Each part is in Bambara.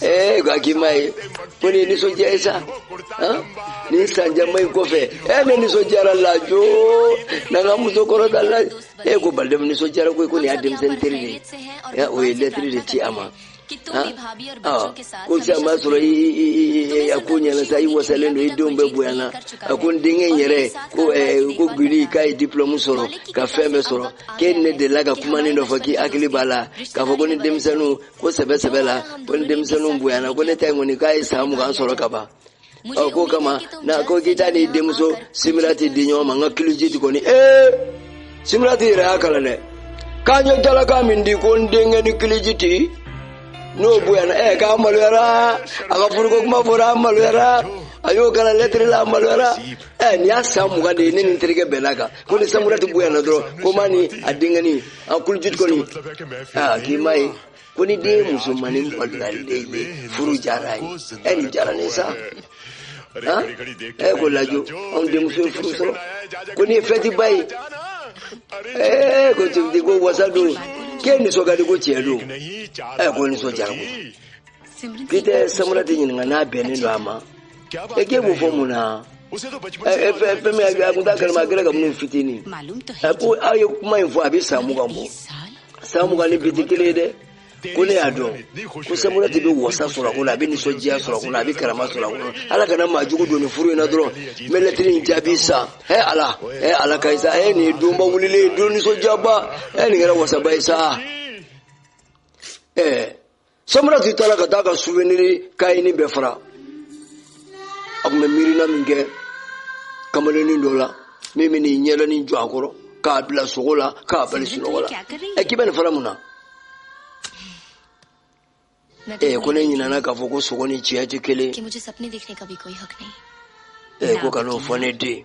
ɛɛ k'i m'a ye ko nin ye nisɔndiya ye sa nin san caman in kɔfɛ ɛ ne nisɔndiyara lajo na n ka muso kɔrɔta la e ko balidɛmu nisɔndiyara koyi ko nin y'a denmisɛnnin teri de ye o ye lɛtiri de ci a ma ko sisan b'a sɔrɔ a ko ɲɛna sa i wasalen don i denw bɛɛ bonyana a ko n denkɛ in yɛrɛ ko kuliji k'a ye diplɔmu sɔrɔ ka fɛn bɛɛ sɔrɔ k'e ni ne delila ka kumanin dɔ fɔ k'i hakili b'a la k'a fɔ ko ni denmisɛnninw ko sɛbɛ sɛbɛ la ko ni denmisɛnninw bonyana ko ne ta in kɔni k'a ye san mugan sɔrɔ ka ban ɔ ko kama na ko k'i ta ni denmuso simirati di ɲɔgɔn ma n ka kilijiti kɔni ee simirati yɛrɛ y'a kalan dɛ k'a ɲɛ jalaka min di ko n denkɛnin kilijiti n'o bonyana ɛ k'a maloyara a ka furuko kuma fɔra a maloyara a y'o kalan lɛtiri la a maloyara ɛ nin y'a san mugan de ye ne ni n terikɛ bɛnn'a kan ko ni samurati bonyana dɔrɔn ko maa ni a denkɛnin a kulujit kɔni aa k'i m'a ye ko ni den musomannin maloyalen ye furu diyar'a ye ɛ nin diyara ne sa han ɛ ko lajo anw denmuso ye furu sɔrɔ ko nin ye fɛtiba ye ɛ ko tibiti ko wasa don k'e nisɔn ka di ko tiɲɛ don ɛ ko nisɔndiyara ko k'i tɛ samurati ɲininka n'a bɛnnen don a ma e k'e b'o fɔ mun na fɛn min a kun t'a kalama a kɛra kabini u fitinin a ko aw ye kuma in fɔ a bɛ san mugan bɔ san mugan ni bi tɛ kelen ye dɛ ko ne y'a dɔn ko samurati bɛ wasa sɔrɔ a kɔnɔ a bɛ nisɔndiya sɔrɔ a kɔnɔ a bɛ karama sɔrɔ a kɔnɔ ala kana maa jugu don nin furu in na dɔrɔn n bɛ lɛtiri in jaabi sa ɛ ala ɛ ala ka ye sa ɛ nin ye donba wulilen ye don nisɔndiyaba ɛ nin kɛra wasaba ye sa ɛ samurati taara ka taa ka suveniri kayenin bɛɛ fara a tun bɛ miirina min kɛ kamalennin dɔ la min bɛ n'i ɲɛdanin jɔ a kɔrɔ k'a bila sogo la k'a bali sunɔgɔ la ɛ k'i bɛ nin fara mun na ɛ ko ne ɲinɛna k'a fɔ ko sogo ni tiɲɛ tɛ kelen ɛ ko kan'o fɔ ne den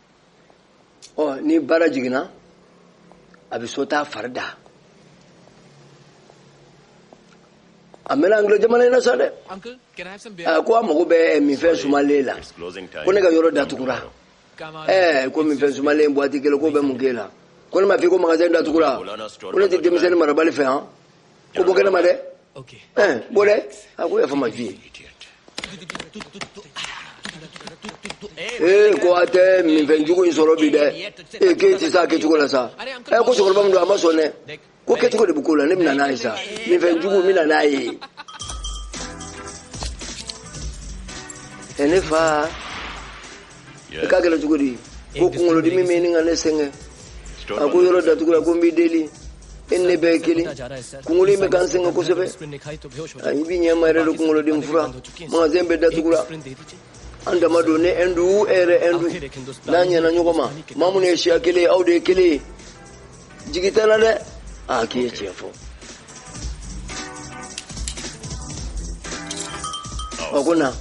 ɔ ni baara jiginna a bɛ so taa fari da a mɛnna angilɛ jamana in na sa dɛ a ko a mago bɛ minfɛn sumalen la ko ne ka yɔrɔ datugura ɛɛ ko minfɛn sumalen buwati kelen k'o bɛ mun k'e la ko ne m'a f'i ko magasin datugura ko ne tɛ denmisɛnnin marabali fɛ yan ko bɔ kɛnɛ ma dɛ ɛn bɔ dɛ a ko yafa ma ju ye ee ko a tɛ minfɛn jugu in sɔrɔ bi dɛ ee k'e tɛ se a kɛcogo la sa ɛ ko cɛkɔrɔba min don a ma sɔn dɛ ko kɛcogo de bɛ ko la ne bɛ na n'a ye sa minfɛn jugu n bɛ na n'a ye ɛ ne fa i k'a kɛlɛ cogo di ko kunkolodimi bɛ ɲini ka ne sɛgɛn a ko yɔrɔ datugula ko n b'i deli e ne bɛɛ kelen kunkolo in bɛ ka n sɛgɛn kosɛbɛ i b'i ɲɛma yɛrɛ de kunkolodimi fura magasɛn bɛɛ datugula an dama don ne ɛndu e yɛrɛ ɛndu n'an ɲɛna ɲɔgɔn ma maa minnu ye siya kelen ye aw de ye kelen ye jigi t'a la dɛ aa k'i ye tiɲɛ fɔ a ko na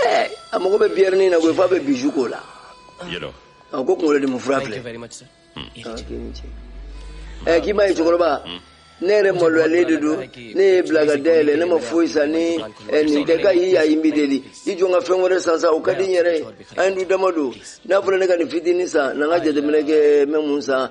Eh, a mago bɛ biyɛri nin na koyi f'a bɛ biju k'o la yɛlɛ a ko kunkolo dimi fura filɛ ɛ k'i m'a ye cɛkɔrɔba ne yɛrɛ maloyalen de don ne y'i bila ka da yɛlɛ ne ma foyi san ni eh, nin tɛ ka y'i y'a ye n b'i deli i jɔ n ka fɛn wɛrɛ san sa o ka di n yɛrɛ ye an ɛndu dama don n'a fɔra ne ka nin fitinin san na n ka jateminɛ kɛ n bɛ mun san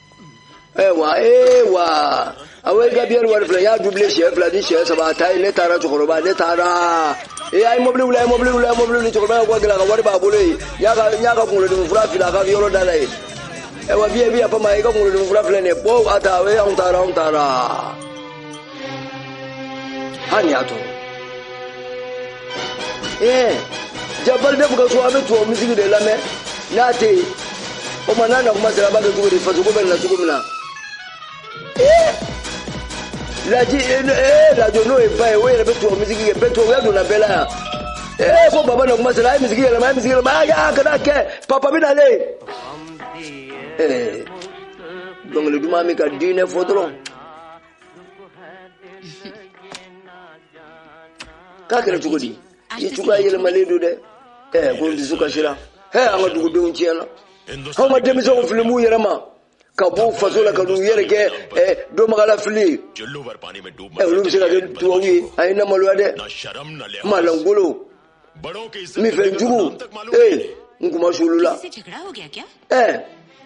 ayiwa ee wa awo i ka biyɛri wari filɛ n y'a dubile siɲɛ fila ni siɲɛ saba a ta ye ne taara cɛkɔrɔba ne taara ee a ye mɔbili wuli a ye mɔbili wuli a ye mɔbili wuli cɛkɔrɔba ka gɛlɛn a ka wari b'a bolo yen n y'a ka n y'a ka kunkolodimi fura fili a ka yɔrɔ da la yen ayiwa biye biye fama i ka kunkolodimi fura filɛ nin ye bɔ a ta o ye anw taara anw taara hali ni y'a tɔɔrɔ ee jabali de b'u ka so a bɛ tubabu miziki de lamɛn n'a tɛ yen o tuma n'a na kuma sera a b'a kɛ cogo di fasoko bɛ na cogo min na ee laji ee lajo n'o ye ba ye o yɛrɛ bɛ tubabu miziki kɛ bɛɛ tubabuya donna bɛɛ la yan ee ko baba na kuma sera a ye miziki yɛlɛma a ye miziki yɛlɛma a y'a kana kɛ papa bɛ nalen ee dɔnkili duman min ka di n ye fɔ dɔrɔn. k'a kɛra cogo di i cogoya yɛlɛmalen don dɛ ɛɛ ko n dusu kasira hɛ an ka dugudenw tiɲɛna anw ka denmisɛnw fili b'u yɛrɛ ma ka b'u faso la ka n'u yɛrɛ kɛ ɛɛ dɔnbaga lafili ye ɛ olu bɛ se ka kɛ tubabu ye a ye n lamaloya dɛ maa lankolon minfɛn jugu ee n kunmasuulula ɛɛ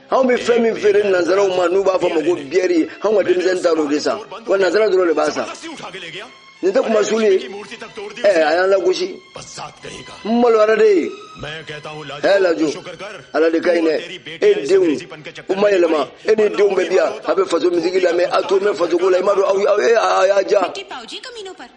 anw bɛ fɛn min feere nanzaraw ma n'u b'a fɔ ma ko biyɛri anw ka denmisɛnnin taa o de san wa nanzara dɔrɔn de b'a san nin tɛ kunmasuulu ye ɛɛ a y'an lagosi n maloyara de ye hɛ lajo ala de ka ɲi dɛ e denw u ma yɛlɛma e n'i denw bɛ diya a bɛ faso miziki lamɛn a tulo bɛ fasoko la i m'a dɔn aw aw e a y'a diya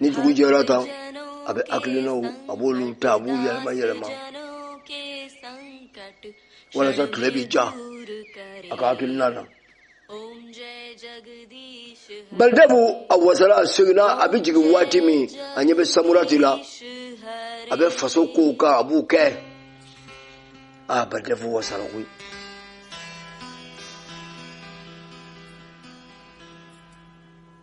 ni dugu jɛra tan a bɛ hakilinaw a b'olu ta a b'u yɛlɛma yɛlɛma walasa tile bɛ ja a ka hakilina na balidabu a wasala a seginna a bɛ jigin waati min a ɲɛ bɛ samurati la a bɛ faso kow kan a b'u kɛ a balidabu wasala koyi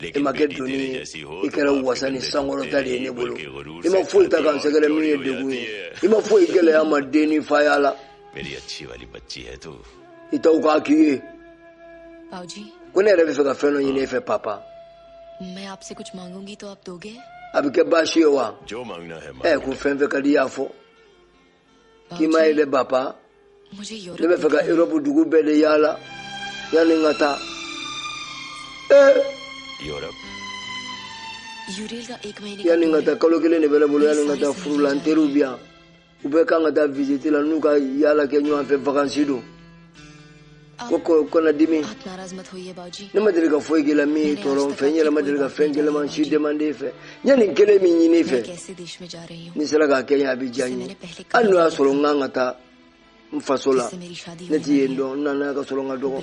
e ma kɛ doni ye i kɛra wasa ni sankɔrɔta de ye ne bolo i ma foyi ta ka n sɛgɛrɛ min ye degun ye i ma foyi gɛlɛya n ma den ni faya la i taw k'a k'i ye ko ne yɛrɛ bɛ fɛ ka fɛn dɔ ɲini e fɛ papa a bɛ kɛ baasi ye wa ɛ ko fɛn fɛn ka di i y'a fɔ k'i ma ye dɛ papa ne bɛ fɛ ka erɔpu dugu bɛɛ de yaala yanni n ka taa yanni n ka taa kalo kelen de bɛ ne bolo yanni n ka taa furu la n teriw bɛ yan u bɛɛ kan ka taa visite la n'u ka yaala kɛ ɲɔgɔn fɛ vakansi don ko kana dimi ne ma deli ka foyi k'i la min y'i tɔɔrɔ n fɛ n yɛrɛ ma deli ka fɛn gɛlɛman si demande e fɛ n ye nin kelen min ɲini e fɛ n'i sera k'a kɛ n ye a bɛ diya n ye hali n'o y'a sɔrɔ n kan ka taa n faso la ne tɛ yen dɔn n nana ka sɔrɔ n ka dɔgɔ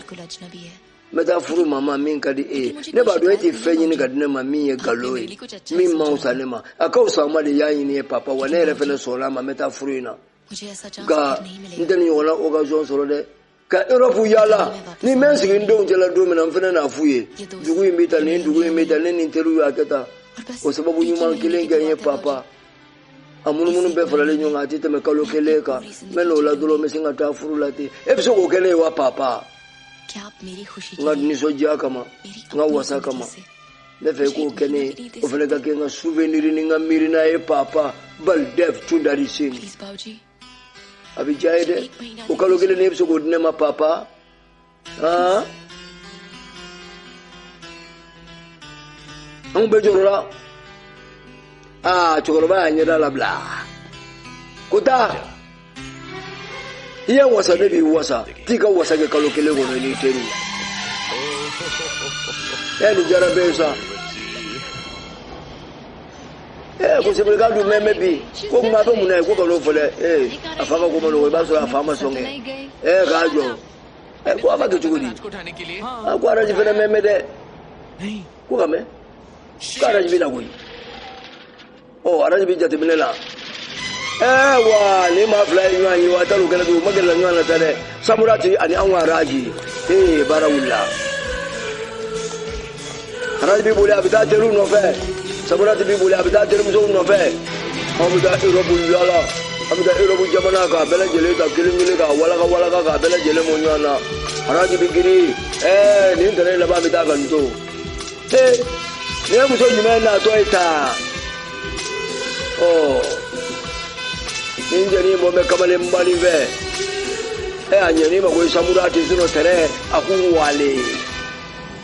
n bɛ taa furu maa ma min ka di e ye ne b'a dɔn e tɛ fɛn ɲini ka di ne ma min ye nkalon ye min man fisa ne ma a ka fisa n ma de y'a ɲini n ye papa wa ne yɛrɛ fana sɔnna a ma n bɛ taa furu in na nka n tɛ nin ɲɔgɔnna occasion sɔrɔ dɛ ka Europe yaala ni n bɛ n sigi n denw cɛla don min na n fana n'a f'u ye dugu in bɛ tan nin dugu in bɛ tan ne ni n teriw y'a kɛ tan o sababu ɲuman kelen kɛ n ye papa a munumunu bɛɛ faralen ɲɔgɔn kan a tɛ tɛmɛ kalo kelen kan n bɛ n'o la dɔrɔn n bɛ sin ka taa furu la ten e bɛ se k'o kɛ ne ye wa papa n ka nisɔndiya kama n ka wasa kama n bɛ fɛ i k'o kɛ ne ye o fana ka kɛ n ka souvenir ni n ka miirina ye papa Baldev tundari Singh a bɛ diya n ye dɛ o kalo kelen e bɛ se k'o di ne ma papa han anw bɛɛ jɔrɔla aa cɛkɔrɔba y'a ɲɛda labila ko taa i ye wasa ne b'i wasa t'i ka wasa kɛ kalo kelen kɔnɔ i n'i teriw ɛ nin diyara bɛɛ ye sa ee ko sebele k'a dun mɛmɛ bi ko kuma a bɛ mun na ye ko kan'o fɔ dɛ ee a fa ka ko ma nɔgɔ i b'a sɔrɔ a fa ma sɔn kɛ ee k'a jɔ ee ko a b'a kɛ cogo di a ko araji fana mɛmɛ dɛ ko k'a mɛn ko araji bɛ na koyi ɔ araji bɛ jateminɛ la ee wa ni maa fila ye ɲɔgɔn ye wa a taar'u kɛlɛ bi u magala ɲɔgɔn na sa dɛ samurati ani anw ka araji ee baara wulila. Araji b'i boli a bɛ taa teriw nɔfɛ samurati b'i boli a bɛ taa terimusow nɔfɛ aw bɛ taa erɔpu yaala aw bɛ taa erɔpu jamana ka bɛɛ lajɛlen ta kelen kelen ka walawala ka bɛɛ lajɛlen mɔ ɲɔgɔn na araji bɛ girin ɛɛ nin tɛrɛn laban bɛ taa ka nin to ee nin ye muso jumɛn natɔ ye taa ɔ nin cɛ ɲi bɔ bɛ kamalen bali fɛ ɛ a ɲɛni ma ko samurati sinɔ tɛnɛ a k'u wale.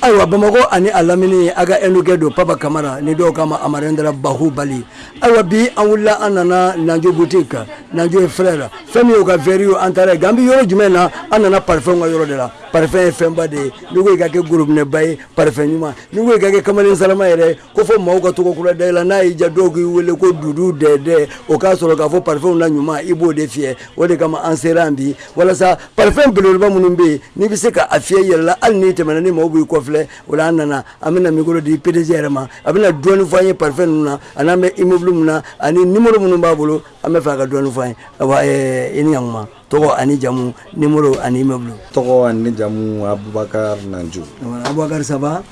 ayiwa bamakɔ ani a lamini a ka indukɛ don papa kamara ni dɔw k'a ma amarendra bahubali ayiwa bi an wulila an nana nanjo boutique nanjo et frère fɛn min y'o ka verre ye an taara yen k'an bɛ yɔrɔ jumɛn na an nana parfɛnw ka yɔrɔ de la parfɛn ye fɛnba de ye n'i ko i ka kɛ gorobinɛba ye parfɛn ɲuman n'i ko i ka kɛ kamalen sarama yɛrɛ ko fɔ maaw ka tɔgɔ kura da i la n'a y'i ja dɔw k'i wele ko dudu dɛdɛ o k'a sɔrɔ k'a fɔ pafɛnw na ɲuman i b'o de fiyɛ o de kama an sera bi walasa pafɛn beleba minnu bɛ yen n'i bɛ se ka a fiyɛ i yɛrɛ la hali n'i tɛmɛna ni maaw b'i kɔfilɛ o la an nana an bɛna mikoro di pdg yɛrɛ ma a bɛna dɔɔnin fɔ an ye pafɛn ninnu na ani n'an bɛ immeuble min na ani numéro minnu b'a bolo an b'a fɛ a ka dɔɔnin fɔ an ye i ni ɲ tɔgɔ ani jamu nimoro ani immeuble tɔgɔ ani jamu abubakar nanju abubakar ça va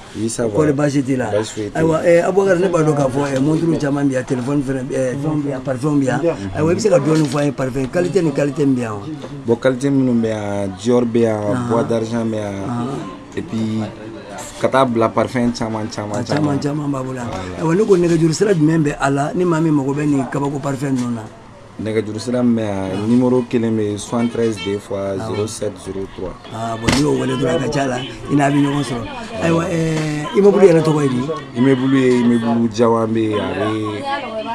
kɔri basi t'i la ayiwa eh, abubakar ne b'a dɔn k'a fɔ eh, monturu caman bɛ yan telefɔni fɛnɛ eh, fɛnw bɛ yan parifɛnw bɛ yan ayiwa i bɛ se ka dɔɔni fɔ an ye parifɛn kalite ni kalite min bɛ yan wa bon kalite minnu bɛ yan dior bɛ yan ah. bois d'argent bɛ yan ah. et puis ka taa bila parfɛn caman caman caman caman b'a bolo yan ayiwa ne ko nɛgɛjuru sira jumɛn bɛ a la ni maa min mago bɛ nin kabako parfɛn ninnu na nɛgɛjuru sira min bɛ yan numéro kelen bɛ yen 73 deux fois 07 03 aa bon n'i y'o wele dɔrɔn a ka c'a la i n'a bɛ ɲɔgɔn sɔrɔ ayiwa ɛɛ immeuble yɛrɛ tɔgɔ ye di immeuble ye immeuble jawanbɛ ye a bɛ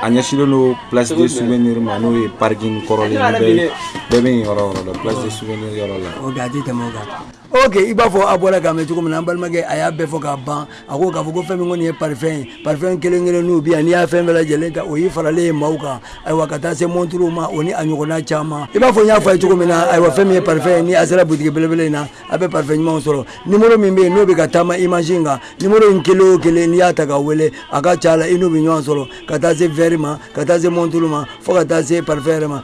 a ɲɛsinnen don place de souvenir ma n'o ye parking kɔrɔlen ye bɛɛ bɛ yen yɔrɔ o yɔrɔ la place de souvenir yɔrɔ la ok a tɛ tɛmɛ o kan ok i b'a fɔ a bɔra k'a mɛn cogo min na an balimakɛ a y'a bɛɛ fɔ k'a ban a ko k'a fɔ ko fɛn min kɔni ye parifɛn ye parifɛn kelen kelen n'u bi yan n'i y'a fɛn bɛɛ lajɛlen ta o y'i faralen ye maaw kan ayiwa ka taa se monturuw ma o ni a ɲɔgɔnna caman i b'a fɔ n y'a fɔ a ye cogo min na ayiwa fɛn min ye parifɛn ye ni a sera butigi belebele in na a bɛ parifɛn ɲumanw sɔrɔ nimoro min bɛ yen n'o bɛ ka taama imazi in kan nimoro in kelen o kelen n'i y'a ta ka wele a ka ca la i n'u bɛ ɲɔgɔn sɔrɔ ka taa se wɛri ma ka taa se monturu ma fo ka taa se parifɛn yɛrɛ ma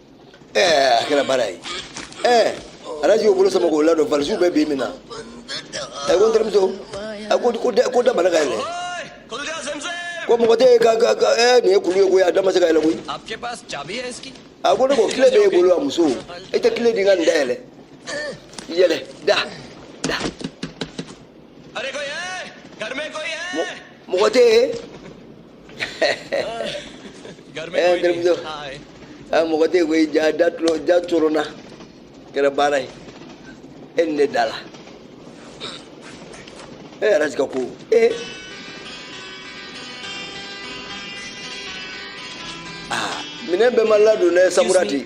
a kɛra baara ye ɛɛ a raji y'o bolo sama k'o ladon valisiw bɛ bi min na a ko n terimuso a ko ko da ko da banna ka yɛlɛ ko mɔgɔ tɛ ka ka ka ɛɛ nin ye kulu ye koyi a da ma se ka yɛlɛ koyi a ko ne ko kile b'e bolo a muso e tɛ kile di n ka nin da yɛlɛ yɛlɛ da da mɔgɔ tɛ yen a mɔgɔ tɛ koyi ja da coronna kɛra baara ye e ni ne da la e a raji ka ko ee aa minɛn bɛɛ ma ladon dɛ samurati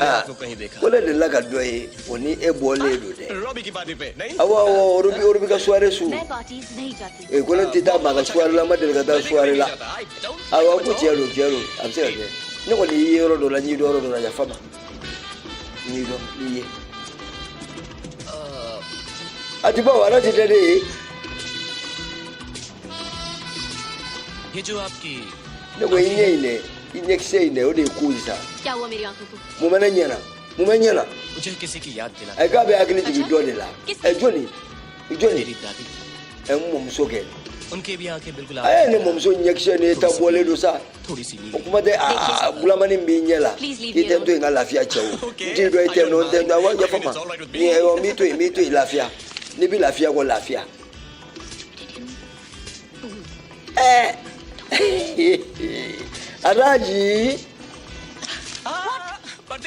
Ah, ko ne delila ka dɔ ye o ni e bɔlen don dɛ awɔ awɔ orobi orobi ka soirée su ee ko ne tɛ taa maa ka soirée la n ma deli ka taa soirée la awɔ ko tiɲɛ don tiɲɛ don a bɛ se ka kɛ ne kɔni y'i ye yɔrɔ dɔ la n y'i dɔn yɔrɔ dɔ la yafa ma n y'i dɔn n y'i ye a ti bawo ala ti dɛ ne ye ne ko i ɲɛ in dɛ i ɲɛkisɛ in dɛ o de ye ko in sa mun bɛ ne ɲɛ na mun bɛ ɲɛ na ɛ k'a bɛ hakili jigin dɔ de la ɛ jɔni jɔni ɛ n mɔmuso kɛ a ye ne mɔmuso ɲɛkisɛ n'i ta bɔlen don sa o kuma tɛ aa bulamani b'i ɲɛ la i tɛ n to yen ka lafiya cɛ o n t'i dɔn i tɛ n dɔn n tɛ n dɔn awa yafa ma ni n b'i to yen n b'i to yen lafiya n'i bɛ lafiya ko lafiya Eh. Araji.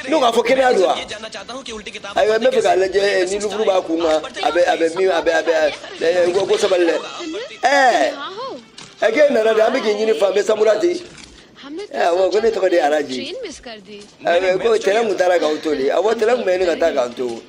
n'o k'a fɔ kɛnɛya don wa ayiwa n bɛ fɛ k'a lajɛ ni liburu b'a kun kan a bɛ a bɛ min a bɛ a bɛ ɛ ko ko sabali dɛ ɛɛ ɛ k'e nana de an bɛ k'i ɲini fan bɛɛ samurati ɛ awɔ ko ne tɔgɔ de ye araji ɛ ko tɛrɛn tun taara k'aw to de awɔ tɛrɛn tun bɛ ɲini ka taa k'an to.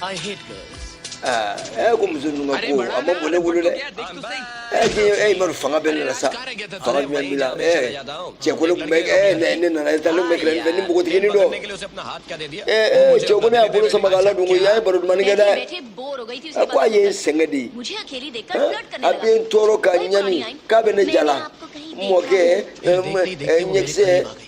I hate girls. Ah, eh, ko muso ninnu ka ko a man bon ne bolo dɛ eh, k'i eh, i ma dɔn fanga bɛ ne la sa fanga jumɛn b'i la eh, cɛ ko ne tun bɛ eh, ne ne nana e ta ne tun bɛ tɛrɛn fɛ ni npogotiginin dɔ eh, eh, cɛ ko ne y'a bolo sama k'a ladon ko y'a ye baro dumani kɛ dɛ a ko a ye n sɛgɛn de ye a bɛ n tɔɔrɔ ka ɲani k'a bɛ ne jala mɔkɛ ɲɛkisɛ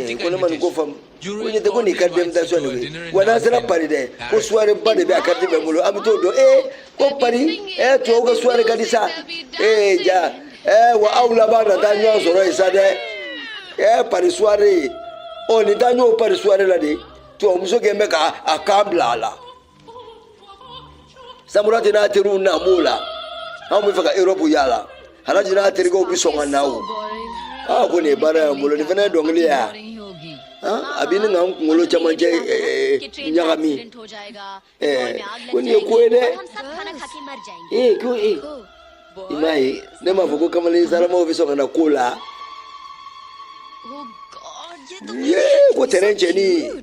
Eh, ko ne ma nin ko faamu ko ɲɛ tɛ ko nin carte d'invitation de koyi wa n'an sera pari dɛ ko suware ba de bɛ a kariti bɛ n bolo an bɛ t'o dɔn ee ko pari ee tubabu ka suware ka di sa ee ja ee wa aw labanna taa ɲɔgɔn sɔrɔ yen sa dɛ ee pari suware ɔ nin taa ɲɔgɔn pari suware la de tubabumuso kelen bɛ ka a kan bila a la samurati n'a teriw na b'o la anw bɛ fɛ ka europe yala araji n'a terikɛw bɛ sɔn ka na o aa ko nin ye baara y'an bolo nin fana ye dɔnkili ya a bɛ ne ka n kunkolo camancɛ ɲagami ko nin ye ko ye dɛ ee ko ee i m'a ye ne m'a fɔ ko kamalen saramaw bɛ sɔn ka na ko la yee ko tɛrɛn cɛnin